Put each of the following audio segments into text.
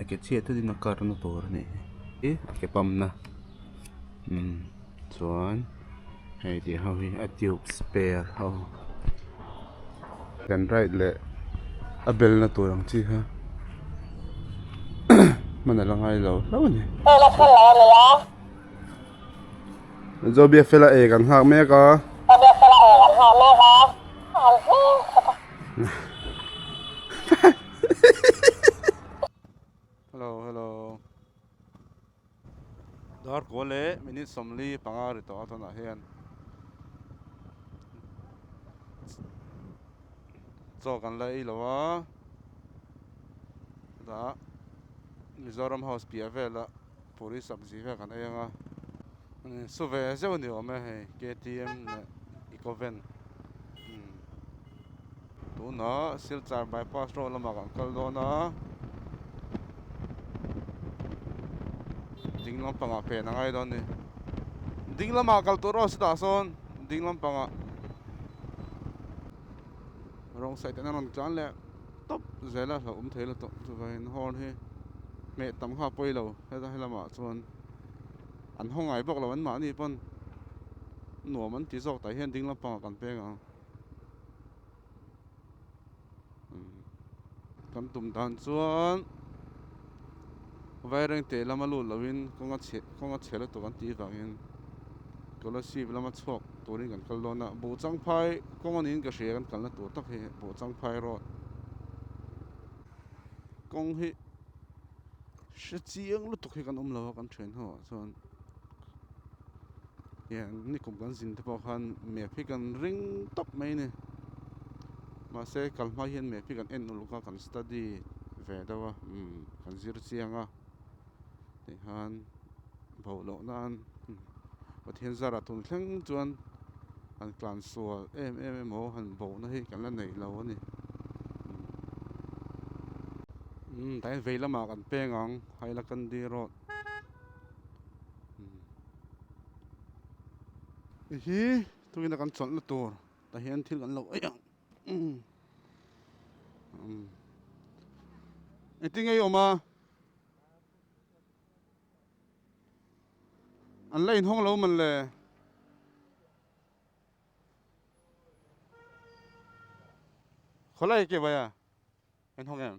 a ke chhiat ta din a kar na tur a ni e a ke pump na umm chuan hei tih ho hi a tube spare ho kan right leh a bel na tur ang chi kha hman a la ngai lo hlauh a ni Joh Biafela e kan nghak mek a Hello hello. Dar kua le minute sawmli panga ri tawh a tawn ah hian. Chaw kan la ei lo a. Da Mizoram House piah vel a. Puri sak zih vek an ei ang a, su ve zeuh ni awm e hei KTM leh Ecoven umm tunah Silchar bypass road lamah kan kal dawn a, ding lampangah pen a ngai dawn a ni, ding lamah kal tur erawh sitah sawn ding lampangah wrong side ah an rawn tlan leh. tawp zel a hlauhawm thei la tawh chuva in horn hi hmeh tam kha pawi lo heta he lamah chuan an haw ngai bawk lo an mahni pawn nuam an ti zawk tah hian ding lampang ah kan peng ang kan tum dan chuan. Vaireng teh lama lut lohin kawnga chhe kawnga chhe lutuk an tih vangin Colosseum lama chhuak turin kan kal dawn a, Buh Changphai kawnga niin ka hria kan kalna tur tak hi Buh Changphai Road. Kawng hi hre chiang lutuk hi kan awm lo a, kan ṭhen ho ah chuan. heng nikum kan zin te pawh khan map hi kan ring tawp mai a ni mahse kal hma hian map hi kan en uluk a kan study ve deuh a umm kan zir chiang a tichuan bho loh nan Pathian zara tun thleng chuan han clan sual em em emaw han boh na hi kan la neih lo a ni umm tlai vei lamah kan peng ang Hailakandi road Hei hi tuna kan chawlhna tur tah hian thil kan lo ei ang. I ti ngei awm a. An la inhawng lo man le. Khawlai ke vai a, inhawng em?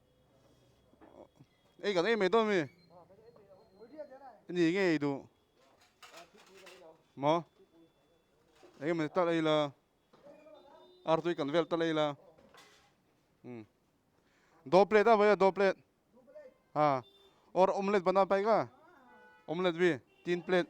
Ei kan ei mai dawn mi i ni nge ei duh maw ei mai ta ei la ar tui kan vel ta ei la um do plate a vaia do plate a or omelette bana pai ka omelette vi tin plate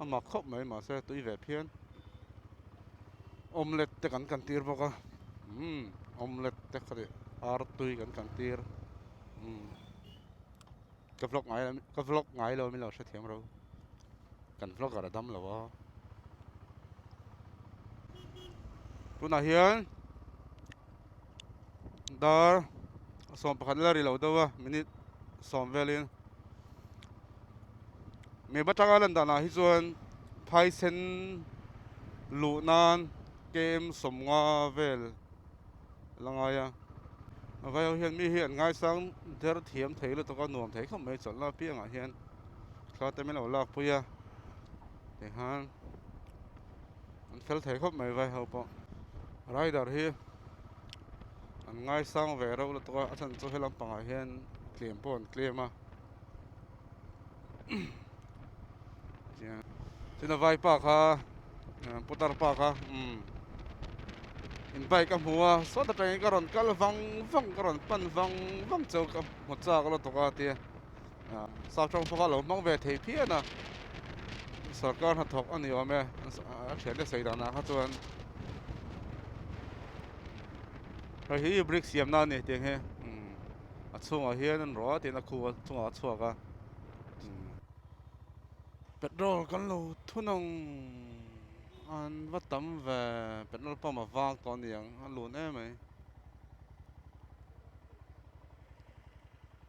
a mak khawp mai mahse tui ve phian omelette te kan kan tir bawk a umm omelette te kha nih artui kan kan tir umm ka vlog ngai la ka vlog ngai lo min lo hre thiam ro kan vlogger a dam lo a tunah hian dar a sawm pakhat la ri lo deuh a minute sawm velin mi va tanga lan danah hi chuan phaisen luh nan kem sawm nga vel a la ngai a a vai ho hian mi hi an ngaisang der thiam thei lutuk a nuam thei khawp mai chawlhna piangah hian thla te min lo lakpui a tichuan. an fel thei khawp mai vai ho pawh rider hi an ngai sang ve reuh lutuk a a then chu he lampang ah hian tlem pawh an tlem a tiang tin a vaipa kha putar pa kha um in bike ka hmu a saw ta tangin ka rawn kal vang vang ka rawn pan vang vang chau ka hmu chak lutuk a tia Sau tawng khaw kha lo hmang ve thei phian a, sarkar hnathawk a ni awm e, a thian e seidan ah kha chuan hei hi bricks siam nan a ni tiang hi a chhung ah hian an rawh a tiin a khu chung ah a chhuak a petrol kan lo thun ang an va tam ve petrol pump a vang tawh a ni ang a lun em mai.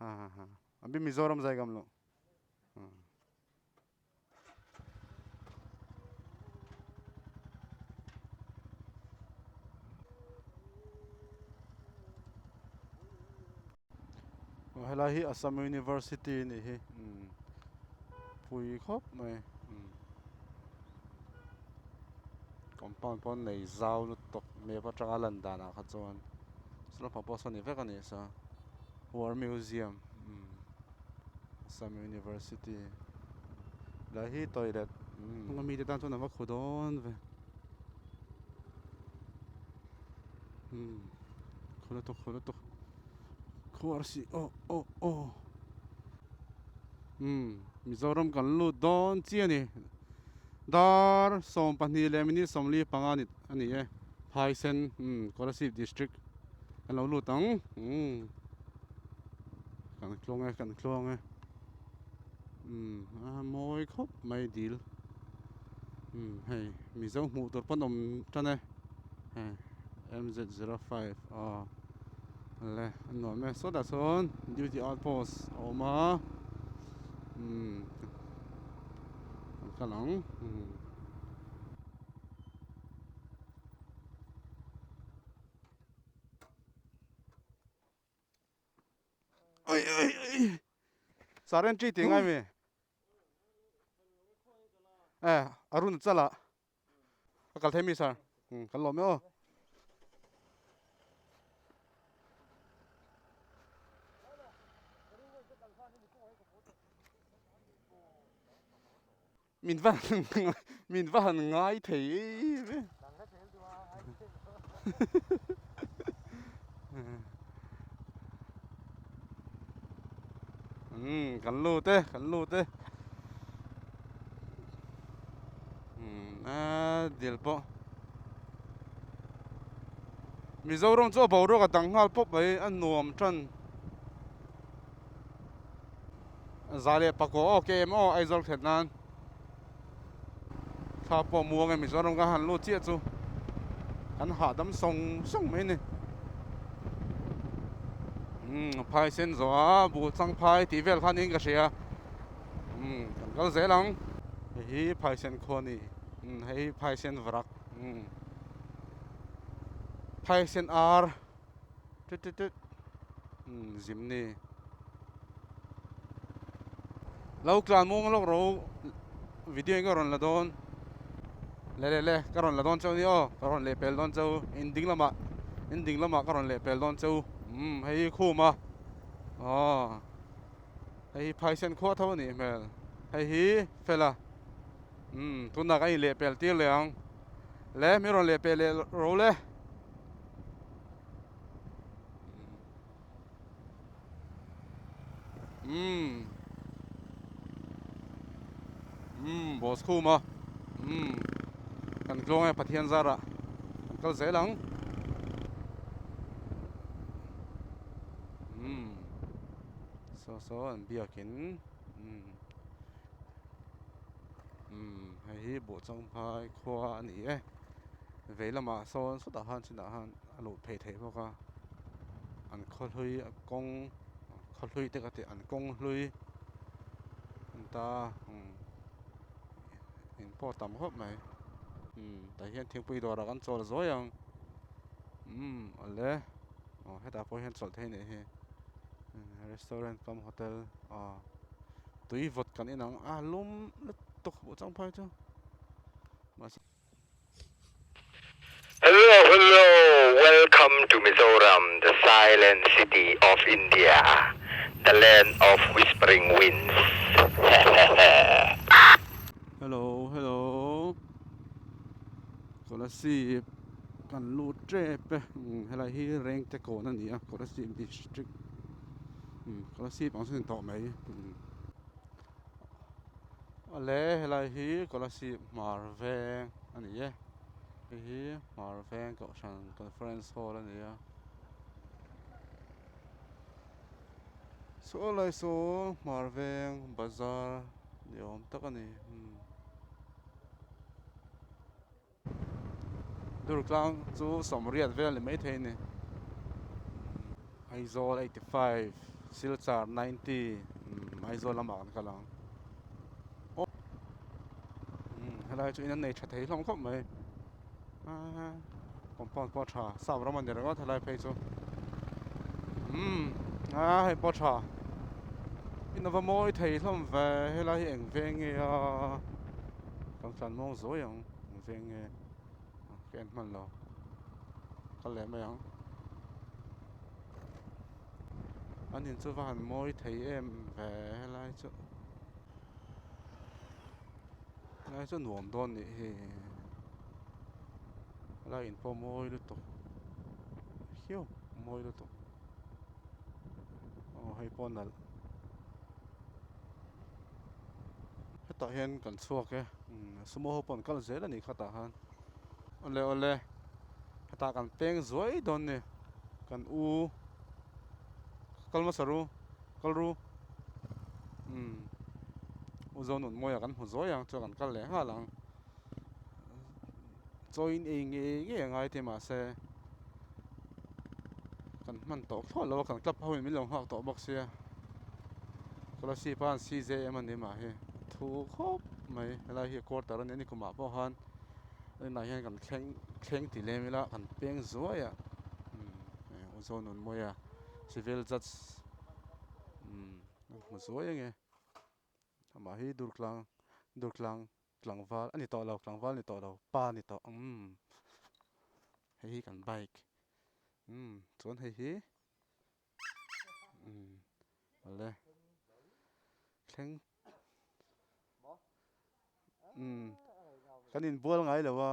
Hahaha a bi Mizoram zaigam lo. Aw helai hi Assam University a nih hi. Pui khawp mai. Compound pawh nei zau lutuk map atanga a lan danah kha chuan. Sula hma pawh a sawi ni vek a ni sa. War museum um Assam University la hi toilet um nga mi te tan chuan a va khu dawn ve um khu lutuk khu lutuk khu ar si oh oh oh um Mizoram kan lut dawn chi a ni dar sawm pahnih leh minute sawmli panga ni. a ni e phaisen umm Kolasib district kan lo lut ang umm kan thlawng e kan thlawng e umm a mawi khawp mai dil umm hei mizo hmuh tur pawn awm tan e hei MZ zero five aw le a nuam mai sawt a chuan duty outpost a awm a umm kan kal ang umm Sir entry tih ngai mi? Eh, Arun a chal a. A kal thei mi sir? Hmm, kan lawm e aw. Min va han min va han ngai thei eve. um kan lu te kan lu te um a dil po Mizoram chu a boruak a dang nghal pawp mai a nuam tan Za leh pakua aw ke em aw Aizawl khet nan thla pawh muang em Mizoram ka han lut chiah chu kan hahdam sawng sawng mai ni um phai sen zawh a bu chang phai tih vel khan in ka hria um kan kal zel ang hei hi phai sen khaw ni hei hi phai sen varak phai sen ar Tut tut tut. Hmm, zim ni. Lo tlan mong lok ro video ka ron la don. Le le le, ka ron la don chau ni o, ka ron le pel don chau. In ding lama, in ding lama ka ron le pel don chau. Hmm, hei khum a. Oh. Hei phai sen kho tho ni hmel. Hei hi fela. Hmm, tunna ka in le pel tir le ang. Le mi ron le pel le ro le. Mmm. Mmm, boss khu ma. Mmm. Kan tlong ai pathian zara. Kan kal zel ang. Mmm. So so an biak in. Mmm. Mmm, hei hi bo chang phai khua a ni e. vei lamah sawn sawtah han chinah han a luh phei theih bawk a an khawhlui a kawng khawhlui te ka tih an kawng hlui ani ta umm in pawh tam khawp mai umm tah hian thingpui dawrah kan chawl zuai ang umm awle aw hetah pawh hian chawlh thei a nih hi restaurant kam hotel aw tui vawt kan inang a lum lutuk buh chang phai chu Hello hello welcome to Mizoram the silent city of India the land of whispering winds hehehehe. Hello hello kawla sip kan lut tep e helai hi rengte kawn a ni a kawla sip district kawla sip ang chu ni tawh mai. Awle helai hi Kolasib hmar veng a ni e hei hi hmar veng kohhran conference hall a ni a saw lai saw hmar veng bazar ni awm tak a ni. Durtlang chu sawmriat vel ni mai thei a ni. Aizawl eighty five, Silchar ninety, Aizawl lamah kan kal ang. Helai chu in an nei tha thei hlawm khawp mai. Compound pawh tha, sap ram a ni ringawt helai phei chu. Hei pawh tha. In a va mawi thei hlawm ve, helai hi eng ve nge a, kan fian mawng zuai ang. Eng veng nge ka en hman lo ka leh mai ang an in chu va han mawi thei em ve helai chu helai chu nuam dawn nih hi helai in pawh mawi lutuk hiu mawi lutuk aw hei pawh nalh. Hetah hian kan chhuak e. Sumo ho pawn kal zel a nih khatah han. Awle awle. Hetah kan peng zuai dawn ni. Kan u. Kal masa ru. Kal ru. Umm. U Zonunmawia kan hmu zuai ang chuan kan kal leh nghal ang. chawiin ei nge ngei a ngai te mahse kan hman tawh thlawt lo a kan club ho in min lo nghak tawh bawk sia scholarship a an size em a ni mah hi thu khawp mai helai hi quarter a ni a nikum ah pawh khan tunah hian kan thleng thleng ti lem ila kan peng zuai a aw zawn nun mawi a civil judge umm a hmu zuai eng e amah hi durtlang durtlang. Tlangval ani tawh lo tlangval ni tawh lo pa ni tawh umm hei hi kan bike umm chuan hei hi umm le thleng umm kan inbual ngai lo a.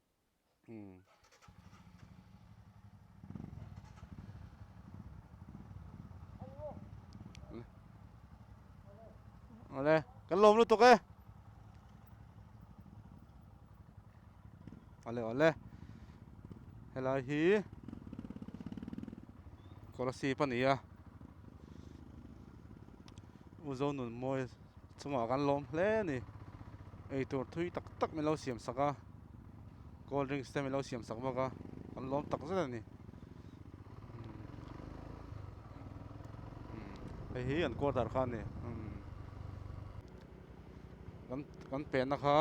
Ole, kan lom lu tuk e. Ole ole. Helai hi. Kola si pa ni a. Uzo nun moi. Chungah kan lawm hle a ni. Eitur thui tak tak min lo siam sak a, cold drinks te min lo siam sak bawk a, kan lawm tak zet a ni. Hei hi an quarter kha a ni. Kan kan pehna kha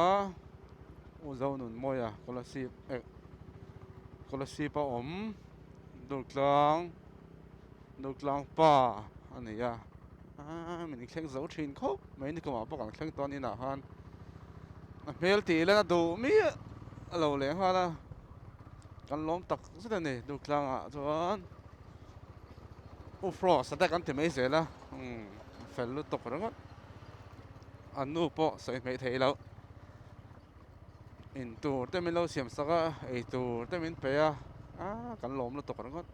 Uzo Nun Mawia Scholarship eh Scholarship a awm Durtlang Nutlang pa a ni a, aa min thleng zo thin khawp mai nikumah pawh kan thleng tawn inah khan a hmel tih hian a duh miah a lo leh nghal a, kan lawm tak zet a ni Nuthlangah chuan U Frost a dek an ti mai zel a, umm fel lutuk ringawt, a nu pawh sawi hmel theilo. In tur te min lo siam sak a, ei tur te min pe a, a kan lawm lutuk ringawt.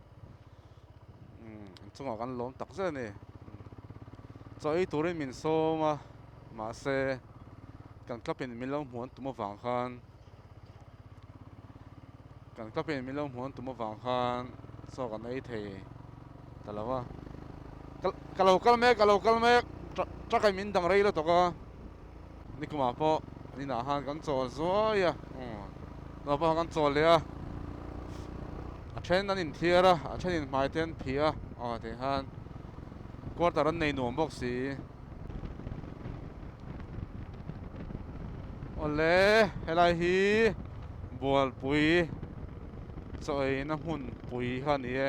Um, in chungah kan lawm tak zet ni. Chaw ei turin min sawm a, mahse kan kapin min lo hmuan tum avang khan kan kapin min lo hmuan tum avang khan chaw kan ei thei ta lo a. Ka lo kal mek, ka lo kal mek, truck truck min dang rei lutuk a. Nikumah pawh an inah khan kan chawl zuai a, Nawr pawh khan kan chawl leh a, a then an inthiar a, a thenin hmai te an phih a, aw tih khan quarter an nei nuam bawk si. Awle helai hi Bualpui chaw eina hmun pui kha ni e.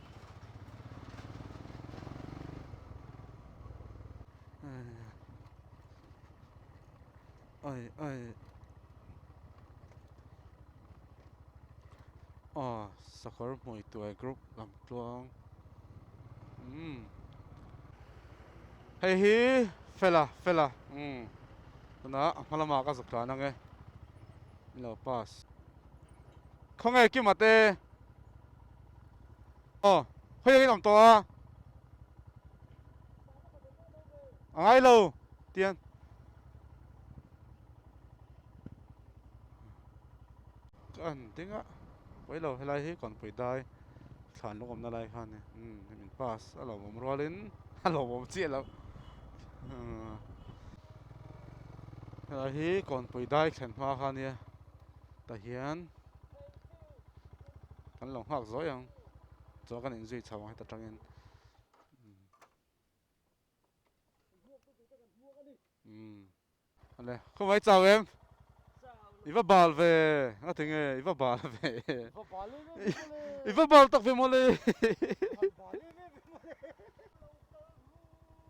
Âi âi Aw sakawr hmui tuai group lam tluang umm hei hi fela fela umm tuna a hma lama ka zuk tlan ang e ilo pass khawnge ki mate. Aw, khawi zâwkin awm tawh a. A ngai lo, tiang. Ka en ding a. Pawi lo, helai hi kawnpui dai thlan lungawmna lai kha a ni. Umm, hei min pass a lo awm rualin a lo awm chiah loh. Umm, helai hi kawnpui dai thlen hma kha a nia. Tah hian kan lo nghak zawi ang chuan kan in zui chho ang heta tangin umm ale khawmai chau em i va bal ve a ti nge i va bal ve i va bal tak ve mawle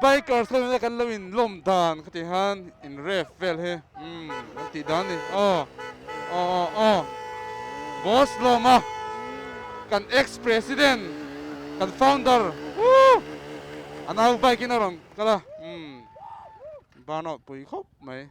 Bikers lo ina kan lo in lawm dan ka ti han in ref vel hi um kan tih dan ni aw aw aw aw boss lawm a kan ex president kan founder uh a nau bike in a rawn kal a um burnout pui khawp mai um.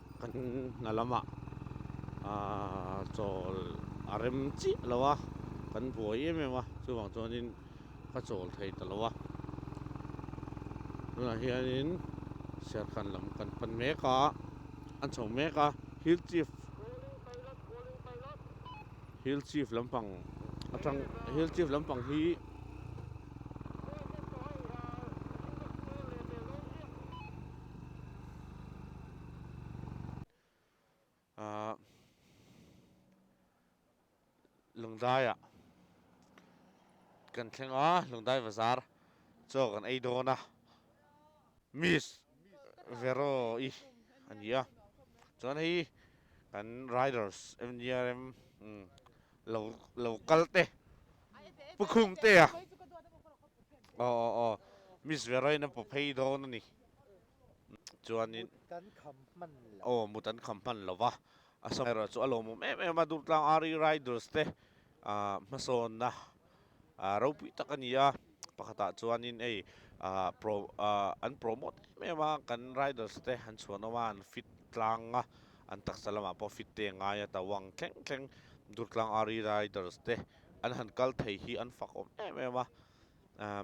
Kan hna lama chawl a rem chiah lo a, kan buai em em a, chuvang chuanin ka chawl thei ta lo a. Tunah hianin Serkhan lam kan pan mek a, an chho mek a, Hill Chief, Hill Chief lampang atang, Hill Chief lampang hi Lungdaia kan thleng a, Lungdai Bazar chaw kan ei dawn a, Miss Vero i a ni a, chuan hei kan riders MGRM lo lo kal te Pukhum te a aw aw aw Miss Vero in a paw phei dawn a ni. chuanin aw mut an kham hman lo va a sawm erawh chu a lawm awm em em a durtlang Arri Riders te ah hmasawnna ah ropui tak a ni a pakhatah chuanin ei ah pro ah an promote em em a kan Riders te an chhuan awm a an fit tlang a an taksa lamah pawh fit te a ngai a tawng thleng thleng durtlang Arri Riders te an han kal thei hi an fak awm em em a ah.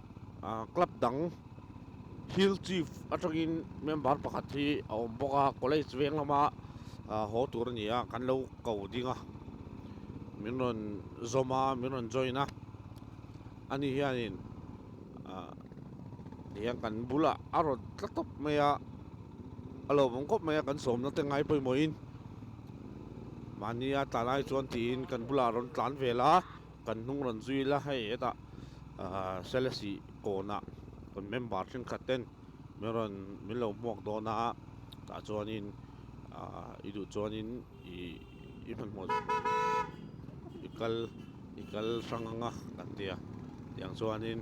ah club dang field chief atangin member pakhat hi a awm bawk a college veng lama ah haw tur a ni a kan lo ko ding a min rawn zawm a min rawn join a ani hianin ah tihian kan bula a rawn tla tawp mai a a lo awm khawp mai a kan sawmna te ngai pawimawhin mahnia tlanai chuan tiin kan bulah a rawn tlan vel a. Kan hnung rawn zui la, hei hetah Selasi kawna kan member thenkhat ten min rawn min lo hmuak dawn a, tah chuanin i duh chuanin i i hmanhmawh i kal i kal hrang anga kan ti a, tiang chuanin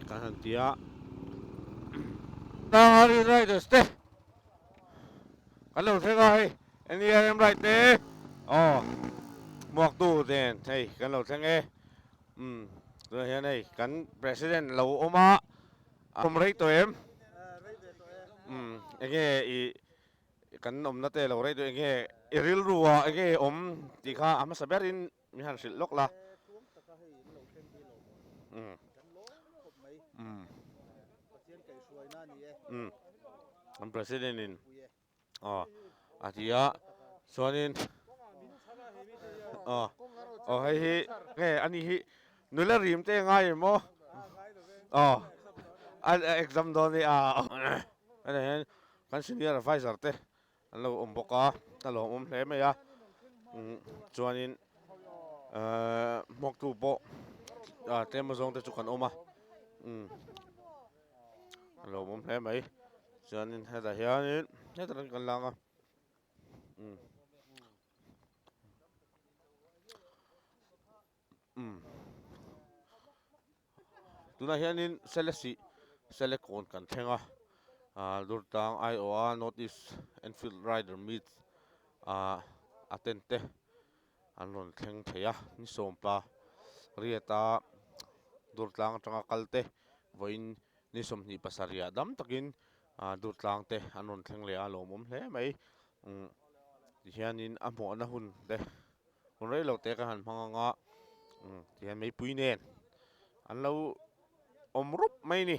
kan han ti a. Tang hian riders te kan lo thleng a hei, Eni a em right e. Aw. Muak tu ten hei kan lo thleng e. Um. Tunah hian hei kan president lo awm a. Awm rei tawh em? Rei ve tawh e. Um. Enge i kan awmna te lo rei tawh enge i rilru a enge i awm tih kha a hmasa ber in mi han hrilh lawk la. Tuam taka hei in lo thleng hi lo maw? Um. Kan lawm khawp mai. Um. Pathian kaihruaina a ni e. Um. Kan president in. aw a ti a chuanin aw aw hei hi nge ani hi nula rim te ngai em maw aw a exam dawn ni a ene hian kan senior advisor te an lo awm bawk a a lawm awm hle mai a chuanin hmawktu pawh tlem azawng te chu kan awm a. a lo awm hle mai chuanin hetah hianin hetah rawng kan la ang a umm umm tunah hianin selesi selecon kan thleng a ah durtlang aiawh a north east enfield rider meet ah a tent te. an rawn thleng thei a, ni sawmpa riata durtlang atanga kalte vawiin ni sawmhnih pasarih dam takin durtlangte an rawn thleng leh a, lawmawm hle mai tihianin a hmawhna hun te hun rei lo te kan han hmang anga tihian meipui nen an lo awm rup mai a ni.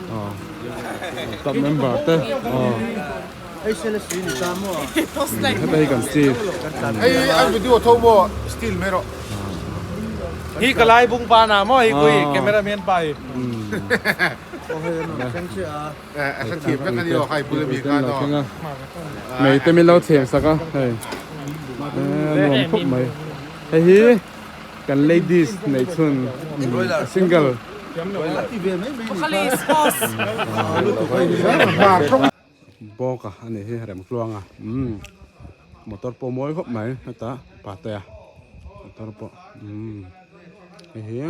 Club member te heta hi kan steel hei a video tho bo steel mai rawh hi ka lai bung pa na maw hi koi camera man pa hi mei te min lo chhem sak a hei nuam thup mai hei hi Kan ladies nei chhun a single. Bawk a ani hi rem tluang a umm motor pawh mawi khawp mai heta pate a motor pawh umm hei hi.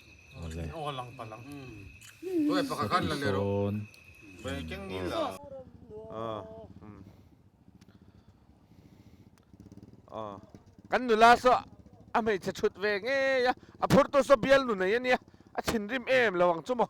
Kan nula saw a hmeichhe thut ve ngei a, a phur tur saw bialnu nei a nia, a thinrim em lo ang chu maw.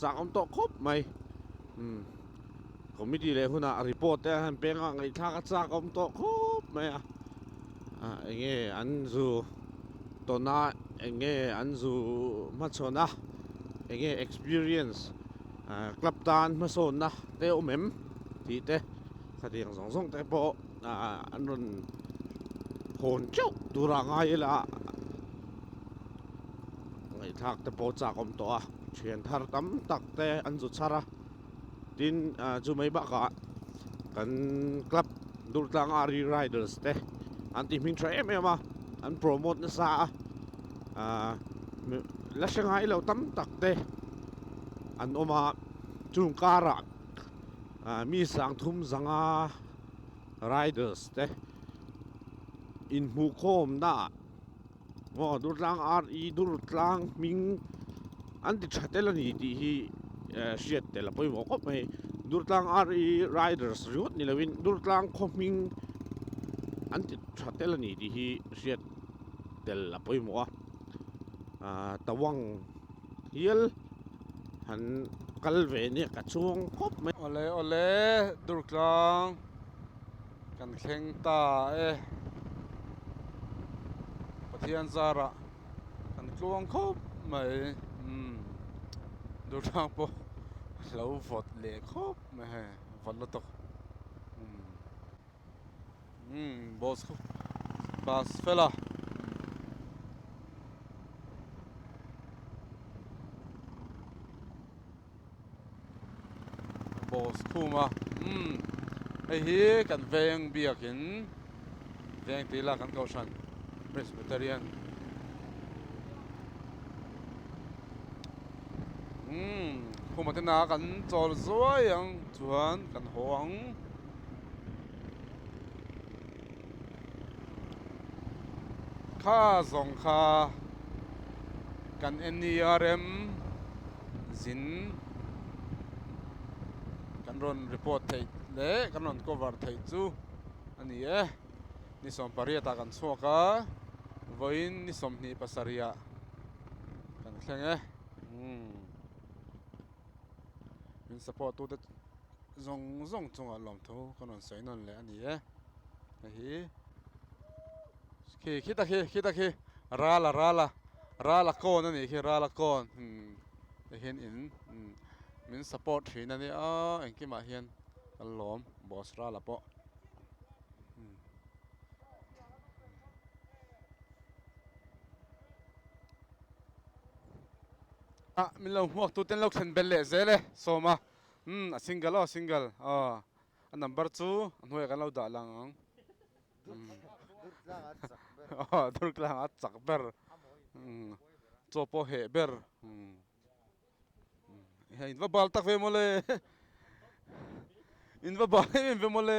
Chang awm tawh khawp mai umm committee leh huna report te han peng a ngaihthlak a chak awm tawh khawp mai a ah, eng nge an zu tona eng nge an zu hmachhawn a eng nge experience ah, club tan hmasawn na te awm em tih te khatiang zawng zawng te pawh ah, an rawn hawn chauh tura ngai ila Ngaihthlak te pawh chak awm tawh a, thian thar tam tak te an zu chhar a. Tin chu mai bakah kan club Durtlang Ari Riders te an ti hming tha em em a, an promote nasa a. La hrengai lo tam tak te an awm a, chung kara mi sang thum zanga Riders te inhmuh khawmna Aw Durtlang RE Durtlang hming an ti tha tel a ni tih hi hriat tel a pawimawh khawp mai Durtlang RE Riders ringawt ni lovin Durtlang khaw hming an ti tha tel a ni tih hi hriat tel a pawimawh a Tawang hial han kal ve nia ka chuang khawp mai. Awle awle Durtlang Kan thleng ta e. Pathian zara kan tluang khawp mai umm Durham pawh lo vawt leh khawp mai he vawt la tawk umm umm boss kha bus fela boss khuma umm hei hi kan veng biakin veng tih ila kan kohhran presbyterian umm khuma te na kan chawl zuai ang chuan kan haw ang kha zawng kha kan en nia rem. zin kan rawn report theih leh kan rawn cover theih chu a ni e ni sawm pariat ah kan chhuak a vawiin ni sawmhnih pasarih ah kan thleng e umm min support tute zawng zawng chungah lawmtho kan rawn sawi nawn leh a ni e hei hi. khi khi ta khi khi ta khi rala rala rala cone a nih khi rala cone imm tihian in imm min support thin a nia aaa engkimah hian kan lawm boss rala pawh imm ah min lo hmuak tu ten lo thlen bel leh zel e sawma imm a single aw a single aw a number chu a hnuaiah kan lo dah lang ang. Aw durtlang a chak ber umm chaw pawh a heh ber umm in va bal tak ve maw le in va bal em em ve maw le